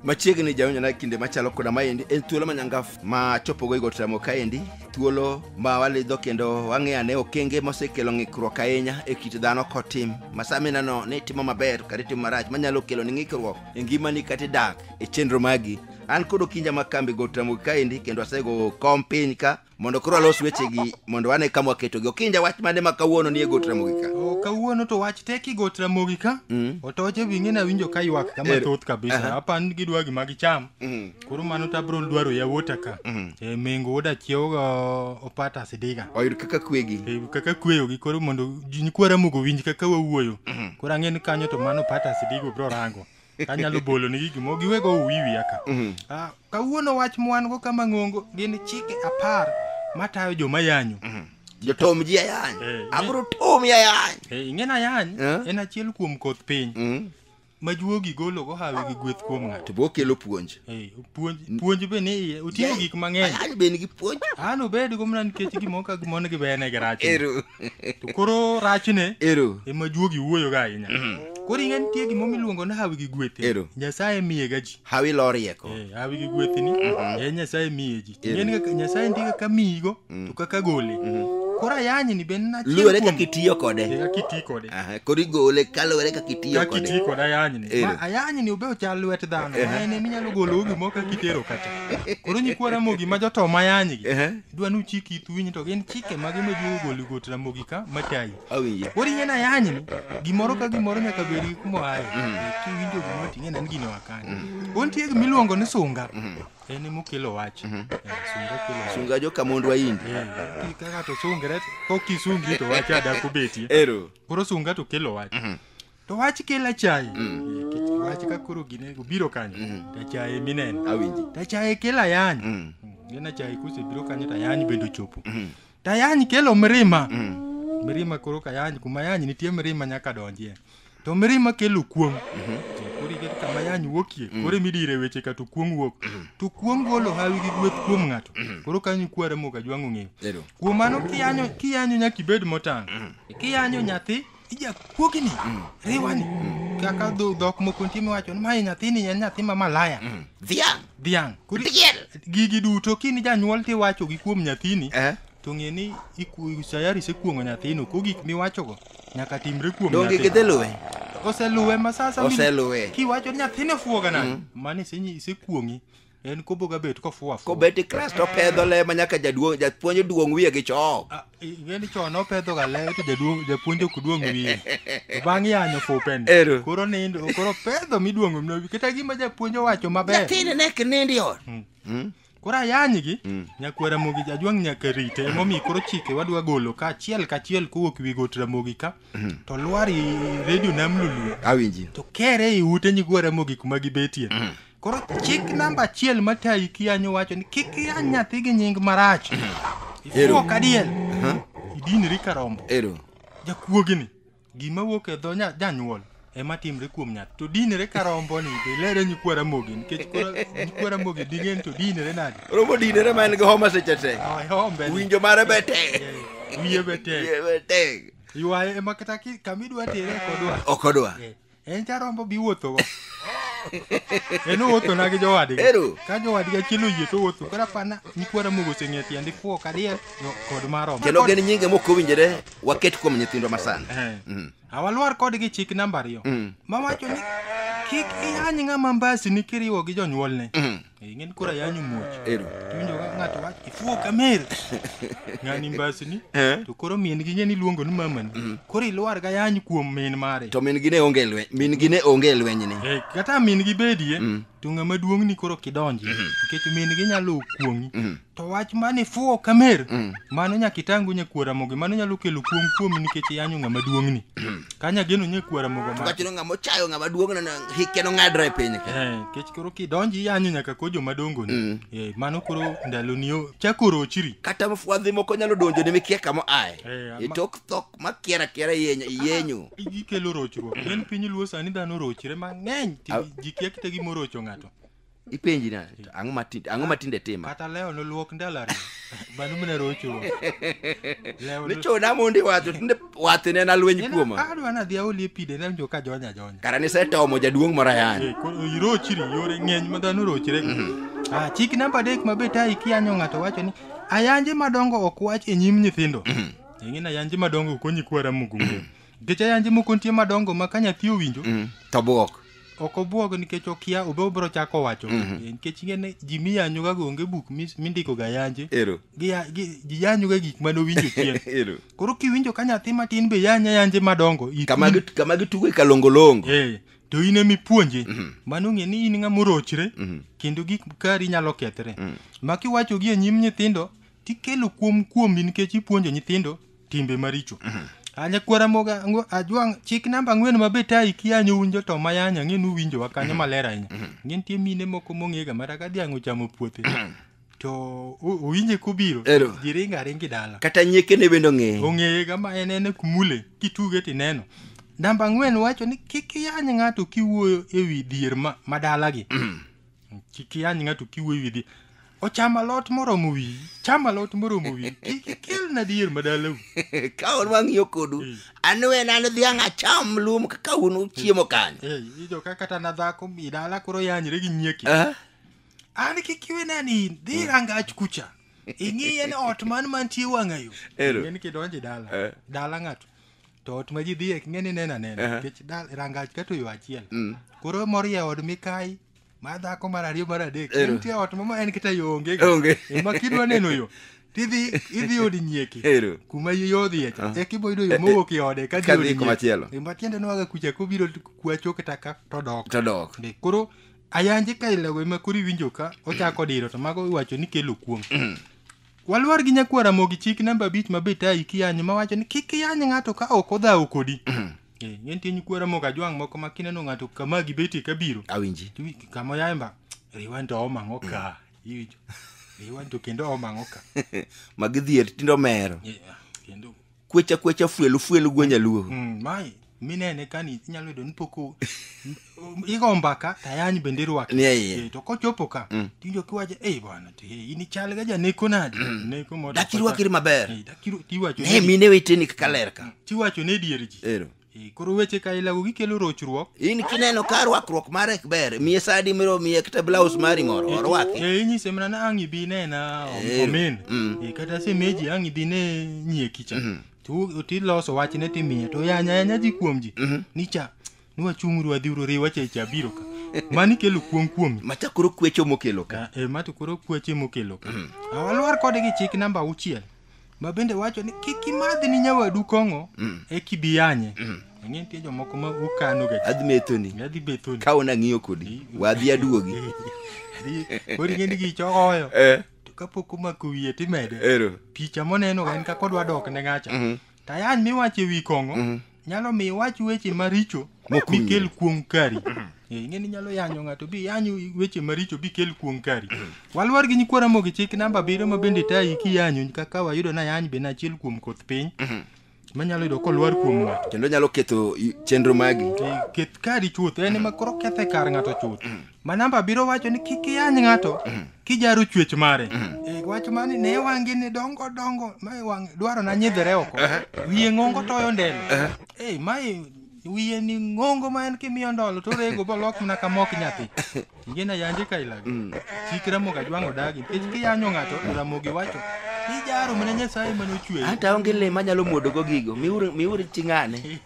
machiegni jaonjona kinde machalo koda maendi en thuolo manyangaf ma chopogo igot ramo kaendi thuolo ma walidho kendo wang'eyo ane okenge mosekelo ng'ikruok ahinya e kit dhano kotim ma saminano ni itimo maber kata itimo marach manyalo kelo ni ng'ikruok e ngimani kata idak e chenro magi an kod okinja ma kambi got ramo kaendi kendo asego kom piny ka mondo koro alos wechegi mondo wane kama waketogi okinja wach mane ma kawuono nie got ramogi ka O, kawuono to wach tek igot ramogi ka Mm. otoche winge nawinjo ka ywak kama Ero. thoth kabisa Aha. apan gidwa gima gicham Mhm. koro mano to abro dwaro yawuota ka Mhm. e mengo wuod achiewo ga opata sidiga oyud kaka kwegi E, kaka kweyogi koro mondo ji nyikwa ramogo winj kaka wawuoyo koro ang'e ni kanyo to mano opata sidiga obro rango anyalo bolo ni gigi mo giwego uwiwi aka Mhm. Ah, kawuono wach mwan go kama ng'ongo gin chike apar matayo joma yanyo jotom ji ayany Eh, abro tomi ayany Eh, ing'en ayany Eh. en achiel kuom koth piny Mm. ma juogi golo go hawi gi gweth kuom ng'ato to bokelo puonj Eh, puonj puonj be ni iye oting'o gik mang'eny ayany be nigi puonj an obed go mana nikech gimoko ka gimon gi bene gi rach Ero. to koro rachne ero ema juogi wuoyoga ahinya mm. koro ing'e nitie gima miluongo ni hawi gi gwethni ero nyasaye miye ga ji hawi lo rieko eh, hawi gi gwethni mm-hmm. e nyasaye miye ji nyasaye nitie kaka miyigo mm. to kaka gole mm-hmm. koro ayany ni ben luwore kaka itiyo kode eh, kaka itiyo kode koro igole kaluwore kaka itiyo kode kaka itiyo kode ayany ni ayany ni obe ochal lwet dhano ma en eminyalo golo gimoro kaka itero kata koro nyikwara mogi ma jotoma ayany gi Dwa nu chik ithu winyi to gin chike mage ma juo goli got ramogi ka matayi. Awinje. Ori ngena yanyi ni gimoro ka gimoro nyaka bed gi kuma aye. Ki winjo gimoro ting'e nan gino akani. Untie gi miluongo ni sunga. En emo kelo wach. Eh, Sunga kelo wach. Sunga joka mondwa indi. Eh, Kaka to sungre ko kisungi to wach ada kubetie. Ero. Koro sunga to kelo wach. to wach kel achaye Nikech wach ka koro gine obiro kanyo to achaye mineno Awinji. to achaye kel ayany Mm. gin achaye kosebiro kanyo to ayany bende ochopo Mm. to ayany kelo mirima Mm. mirima koro ka yany kuma yany nitie mirima nyaka donjie to mirima kelo kuong koro iket kama yany wuokie koro emidire weche ka to kuong wuok to kuong golo hawi gi gweth kuom ng'ato koro kanyo kware moka jwang'o ng'eyo Ero. kuom mano kiyanyo kiyanyo nyaka ibed motang' kiyanyo nyathi Ija kuogi ni, riwa ni. Kaka dho dhok moko nitie miwacho ni mae nyathini en nyathi ma malaya. Dhiang'. Dhiang'. Koro Diel. gigi duto kini janyuol tiwacho gi kuom nyathini. Eh. To ng'e ni iku- sayari isekuong'o nyathino ko gik miwachogo nyaka timre kuom Donge nyathi. gidhi luwe? Oseluwe ma sasa Oseluwe. Kiwacho ni nyathini ofuoga nade? Mano isenyi- isekuong'i. en kobo ga bet kofuo afuo kobet i krest opedho le ma nyaka jaduong' japuonj duong' wiye gi chok Ah, i- yani chon opedho ga le to jaduong' japuonj ok duong' wiye To bang' yanyo fupen Ero. koro nindo koro pedho miduongo mno kata gima japuonj owacho maber nyathini ne kinindi ot koro ayanygi nyakwar ramogi jajuang' nyaka rite emomiyo koro chike wadwa golo ka achiel ka achiel kowuok wi got ramogi ka to lwar i redio nam lulu awinji to kere i ute nyigwa ramogi kuma gibetie Koro chik namba achiel matayi kiyanyo wacho ni kik iyany nyathi gi nying marach. Ero. Ifuo kadiel. Aha. Idinri karombo. Ero. Jakuogini. Gima wuok e dho nya- janyuol ema timre kuom nyathi. To dinre karombo ni be lere nyikwa ramogi nikech koro nyikwa ramogi dingen to dinre nade. Romo dinere ma en gi homa seche te. Ai, hombe ni. Winjo mare be tek. Wiye be tek. Wiye be tek. Ywaye ema kata ki- kama idwa tere ok odwa. Ok odwa. Eh. en jarombo biwuothogo en owuothona gi jowadgi Ero. ka jowadgi achiel oyie to owuotho koro apana nyikwara mogo oseng'e tiende fuo kadiel no- kod marombo kendo gin nyinge mok owinjore waket kuom nyithindwa masani Mm. awalwar kodgi chik namba ariyo Mm. mawacho ni kik ihany ng'ama mbasini kiriwo gi jonyuolne Mm. Ingin kura ya nyumuoch. Ero. Tuwinjo ka ng'ato wach ifuwo kamer. Ng'ani mbasni. Eh? To koro min gi ng'eni luongo ni mamani. Mm. Koro ilwar ga yany kuom min mare. To min gi ne onge lweny, min gi ne onge lweny ni. Eh, kata min gi bedie. Mm. To ng'ama duong' ni koro kidonji. Mm-hmm. Nikech min gi nyalo kuong'i. Mm-hmm. to wach mane fuwo kamer mm. mano nyaka itangu nye kuora mogo mano nyalo kelo kuom kuom nikech yanyo ng'ama duong' ni mm. kanya geno nye kuora mogo ma kachino ng'ama ochayo ng'ama duong' na hike no ng'adra e piny ka eh kech koro kidonji yanyo nyaka ko joma dongo ni mm. eh mano koro ndalo ni yo chakoro chiri kata mfwadhi moko nyalo donjo ne mikia kama ae eh, itok thok ma kiera kiera yenyo ah, yenyo igi kelo rochruok mm. en piny luo sani dhano rochre mang'eny jikia kita gi morocho ng'ato ipenji na to ang'o matinde ang'o matinde tima kata leo noluok ndalari banu mine rocho leo nichona mondi wacho tinde wathe ne nalweny kuoma adwa nadhi aoli e pide nawinjo ka jonya jonya kara nisetomo jaduong' moro ayani Eh, koro irochiri yore ng'eny ma dhano rochre ah, chik namba adek ma be tayi kiyanyo ng'ato wacho ni ayanje madongo ok wach e nyim nyithindo ing'e ni ayanje madongo konyi kwara mugunge Nikech ayanje moko nitie madongo ma ka nyathi owinjo Mm. To buok. ok obwog nikech okia obe obiro chako wacho Mhm. Eh, nikech ing'e ni ji miyanyoga go onge buk mis- mindikoga yanje Ero. Giya- gi- ji yanyoga gik mane owinjo chien Ero. koro kiwinjo ka nyathi matin be yanya yanje madongo i- Kama gi- kama gitugo e kalongolongo. Eh, to in ema ipuonje Mhm. mano ng'e ni in ng'ama orochre Mhm. kendo gik kari nyalo kethre Mhm. ma kiwachogi e nyim nyithindo tikelo kuom kuomi nikech ipuonjo nyithindo timbe maricho anya kwara moga ngo ajwang chik namba ang'wen ma beta iki anyo un joto ma yanya ng'e nu winjo wa kanyo maler ahinya ng'e nitie mine moko mong'ega mara ka dhiang' ochamo puothe to o- owinje kobiro Ero. giringa ringi dala kata nyiekene bende ong'eyo ong'ega ma en en kumule kituge tineno namba ang'wen wacho ni kik iyany ng'ato kiwuoyo e wi dhier ma, ma dalagi Kiki any ng'ato kiwuoyo wi dhi. Ocham alot moromo wi. Cham alot moromo wi. Kiki kel na dier madalau. ka un wang'iyo kodu Eh. an wen an dhiang' acham lum kaka un uchiemo kanyo Eh, ijo ka kata na dhako mi dala koro yanyre gi nyieki. Ah, An kiki we nani dhi rangach kucha. Ing'iye ni ot man mantie wang'ayo. Ero. En kidonje dala. Eh. Dala ng'ato. to ot ma ji dhie ok ng'e ni neno anena Aha. nikech dal- rangach ka to yo achiel Mm. koro morie od mikayi mar dhako mar ariyo mar adek Ero. nitie ot mama en kata yo onge Onge. ema kidwa neno yo tidhi idhi od nyieki Ero. kuma yo odhiye cha Ah. e kiboyudo yo Eh, eh, mowuok e ode ka dhi kadhi od nyieki. komachielo. E, ma tiende nwaga kucha kobiro kwacho kata ka to dok To dok. Be, koro ayanje ka ilego ema koro iwinjo ka ochako diro to mago iwacho ni kelo kuong Walwar gi nyakwar Ramogi chik namba abich ma betayi kiyanyo mawacho ni kik iyany ng'ato ka ok odhawo kodi. Eh, ng'e nitie nyikwar Ramogi ajwang' moko ma kineno ng'ato kama gibetie kabiro. Awinji. Tiwi kama oyaye mba. Riwa nto omang'o ka. Iwinjo. Riwa nto kendo omang'o ka. Magidhier tindo mero. Eh, ah, Kendo kwecha kwecha fuelu fuelu gwe nyaluo Mm, mai minene kani inyalo yudo ni pok o- m- igo mbaka tayany bende irwake Ni e iye. Eh, to kochopo ka tiwinjo kiwacho ei bwana to hey, in ichal ga janeko nadi neko moda Dak irwakri maber. Eh, dak iru- tiwacho ne ne di- mine weteni kaka lerka tiwacho ne dier ji ero Eh, koro weche ka ilago gikelo rochruok in kineno ka rwakruok mare ok ber miye sadi miro miye kata blaus mari moro orwaki Eh, inyise mana ni ang' ibi nena Eh, omin mm. Eh, kata semeji ang' ibi ne nyie kicha Tu- tiloso wachne timiye to yanya yanya ji kuom ji ni cha niwachung'uru wadhi uru riwa cha cha biro ka mani kelo kuong' kuomi machakoro kwecho mokelo ka Ka- eh, ma to koro kweche mokelo ka awalwar kode gi chik namba auchiel ma bende wacho ni kik imadhi ni nyawadu kong'o e kibiyanye ang'e nitie jomoko ma ukano ga adhi methoni adhi bethoni ka ona ng'iyo kodi wadhi aduogi koro ing'e ni gichogoyo Eh, to kapok omako wiye timede ero picha moneno ga en kaka odwa dok ne ng'acha Mhm. tayan miwacho e wi kong'o nyalo mi iwach weche maricho Mok mi kel kuong kari Eh, ing'e ni nyalo yanyo ng'ato bi yanyo weche maricho bi kel kuong kari walwar gi nyikwa ramogi chik namba abiriyo ma bende tayi kiyanyo kaka wayudo na yany be nachiel kuom koth piny manyalo yudo kolwar kuom ng'ato kendo nyalo ketho i- chenro magi Eh, keth kari chuth en ema koro kethe kar ng'ato chuth Manamba biro wacho ni kik iyany ng'ato mm. kijaro chwech mare. Mm. E, wach mani ne wangi ni dongo dongo mae wang dwaro na nyidhre oko. Uh-huh. Wiye ng'ongo toyo ndelo. Uh-huh. E, mae wiye ni ng'ongo ma en kimiyo ndolo to rego bolok mana ka mok nyathi. Ingena yanje ka ilago. Mm. Chik Ramogi Ajwang' odagi nikech kiyanyo ng'ato to Ramogi wacho ijaro mana Nyasaye mane ochweyo. Hata onge le manyalo mwodogo gigo. Miuru miuru ching'ane.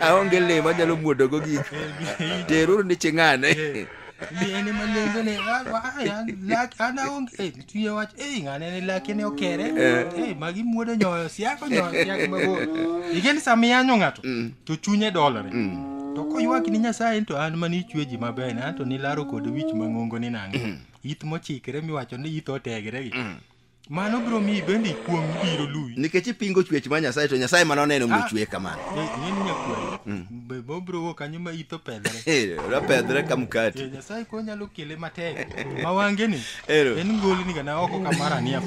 aonge le manyalo muodogo gik teruru ni ching'ane Miene malengo ne wa wa ya lak ana ong eh tuye wach eh ngane ne lak ne okere eh magi muodo nyoyo siako nyoyo siako mabo igen samia nyo ngato to chunye dolore to koywak ni nyasaye to an mani chwe ji maber na to ni laro kod wich mangongo ni nange ith mochikre miwacho ni ith otegre gi Mano biro miyi bende ikuong' biro luwi. nikech ipingo chwech ma nyasaye to nyasaye mana oneno omiyo Ah. chweye kamano Eh, Ng'eni nyakwaro. Be bo biro wuok kanyo ma itho pedhre. Eh, rapedhre ka Eh, mkati Nyasaye ko nyalo kele matek. Ma wange ni. Ero. En ngoli ni gana oko kamara niya.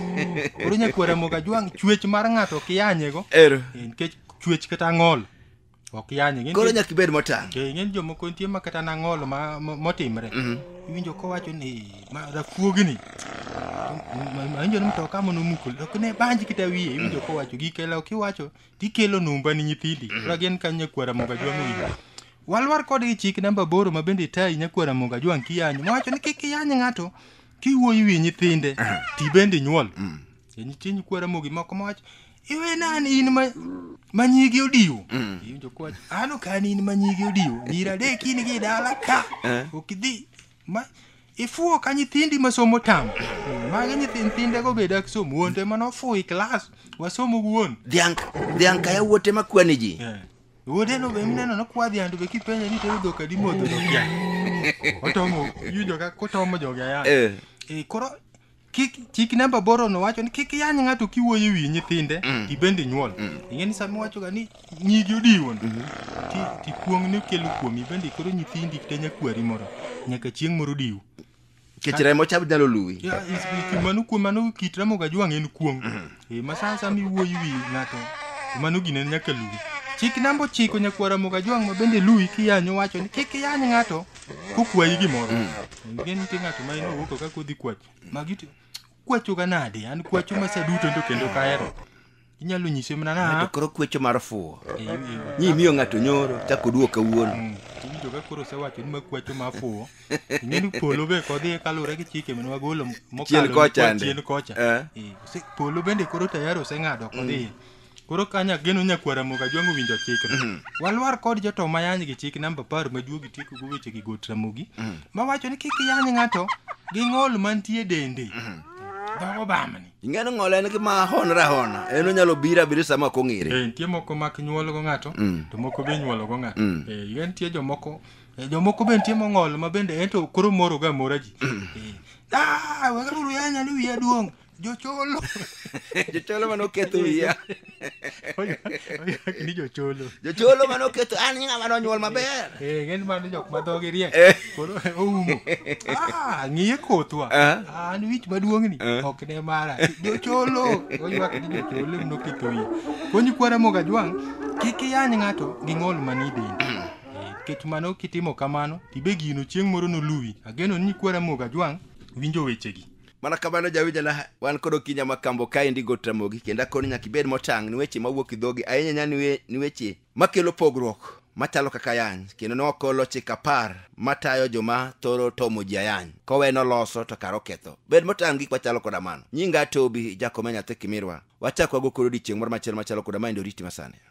Koro nyakwara moga jwang' chwech mar ng'ato kiyanyego. ero Eh, Nikech chwech kata ng'ol. ok yanye ng'e koro nyaka ibed motang' eh, ng'e jomoko nitie ma kata nang'olo motimre mhm. iwinjo kowacho ni rafuogini awinjo ni mtoka mono mukul ok ne banji kita wiye iwinjo kowacho gikela ok iwacho tikelo numba ni nyithindi mhm. koro gin kanyo nyakwara moga jwang'o wiye walwar kodgi chik namba boro ma bende itayi nyakwara moga jwang' kiyanyo mowacho ni kik iyany ng'ato kiwuoyi wi nyithinde mhm. ti bende nyuol mm. Kiny kiny kwara mogi moko mach. Iwe nan in ma ma nyigi odiwo. Iwinjo kwach. Ano kan in ma nyigi odiwo. Nyira de kini gi dala ka. Eh. Okidhi ma ifuo ka nyithindi ma somo tam. Magi nyithinde go beda somo wonde ma nofuo i klas. Wasomo wuon. Dhiang' dhiang' ka yawuot ema kwani ji. Eh. Wuode no be mineno no kwadhi andu be kipenje ni tero dhok adi modho dhok ya. Otomo yudo ka kotomo joga ya. Eh. Eh, koro kik chik namba boro no wacho ni kik yany ng'ato kiwuoyo ewi nyithinde mm. ibende inyuol mm. ing'e ni sama iwachoga ni nyigi odiwon mm-hmm. ti ti kuong' ni kelo kuom ibende koro nyithindi kata nyakwari moro nyaka chieng' moro diwu kech remo chab nyalo luwi mano kuom mano kit remo ga jwang' en kuong' mm-hmm. Eh, ma sa asaya miwuoyi wi ng'ato to mano gine nyaka luwi chik namba ochiko nyakwara moga jwang' ma bende luwi kiyanyo wacho ni kik iyany ng'ato kokwayi gimoro nge nitie ng'ato ma inowuoko ka kodhi kwach magi to kwachoga nade an kwacho ma sa duto to kendo kahero inyalo nyise mana To na koro kwecho mar fuwo. Eh, eh, Nyi miyo ng'ato nyoro, chako duoka wuon. Mm, iwinjo ka koro osewacho ni makwacho mafuwo ing'eni polo be kodhiye kaluwore gi chike mane wagolo Chien kocha mokalo ndi. chien kocha Eh. Eh, ose- polo bende koro tayari oseng'ado kodhiye koro kanya geno nyakwara moga jwango winjo chikno walwar kod joto mayany gi chik namba apar majuogi tieko go weche gi got ramogi mawacho ni kik iyany ng'ato gi ng'ol mantie dende dhogo bamni ing'eni ng'ol en gima honre ahona en onyalo bira biri sama ok ong'ere Eh, nitie moko mak nyuolgo ng'ato Mm. to moko be nyuologo ng'ato Mm. Eh, nitie jomoko Eh, Jomoko be nitie mong'ol ma bende ento koro moro ga mora ji. Eh, Ah, wegaruru yanya ni wiya duong'. Jocholo. jocholo mane oketho wiya Ni jocholo. jocholo mane oketho an i ng'ama nonyuol maber Eh, ng'eny mano jok ma dhogi riek. Eh. Koro oumo. Ah, ng'iye kothwa. Ah. Ah, an wich maduong'ni Eh. ok ne mara. Jocholo. Oywak ni jocholo em noketho wiye. Konyi kwara moga jwang' kik iyany ng'ato gi ng'ol manie dende. Nikech mano kitimo kamano, tibe gino chieng' moro noluwi. Ageno ni kwara moga jwang' winjo wechegi. Mana kamano jawinjana wan kod okinya ma kambo kaendi got ramogi kendo akoni nyaka ibed motang' ni weche mawuok e dhogi ahinya nya ni we- ni weche makelo pogruok machalo kaka ayany kendo ne ok olo chik apar matayo joma thoro tomo ji ayany kowe noloso to kar oketho bed motang' gik machalo koda mano nyinga tobi jakome nyathi kimirwa wachak wago koro odiechieng' moro machielo machalo koda ma endo riti masani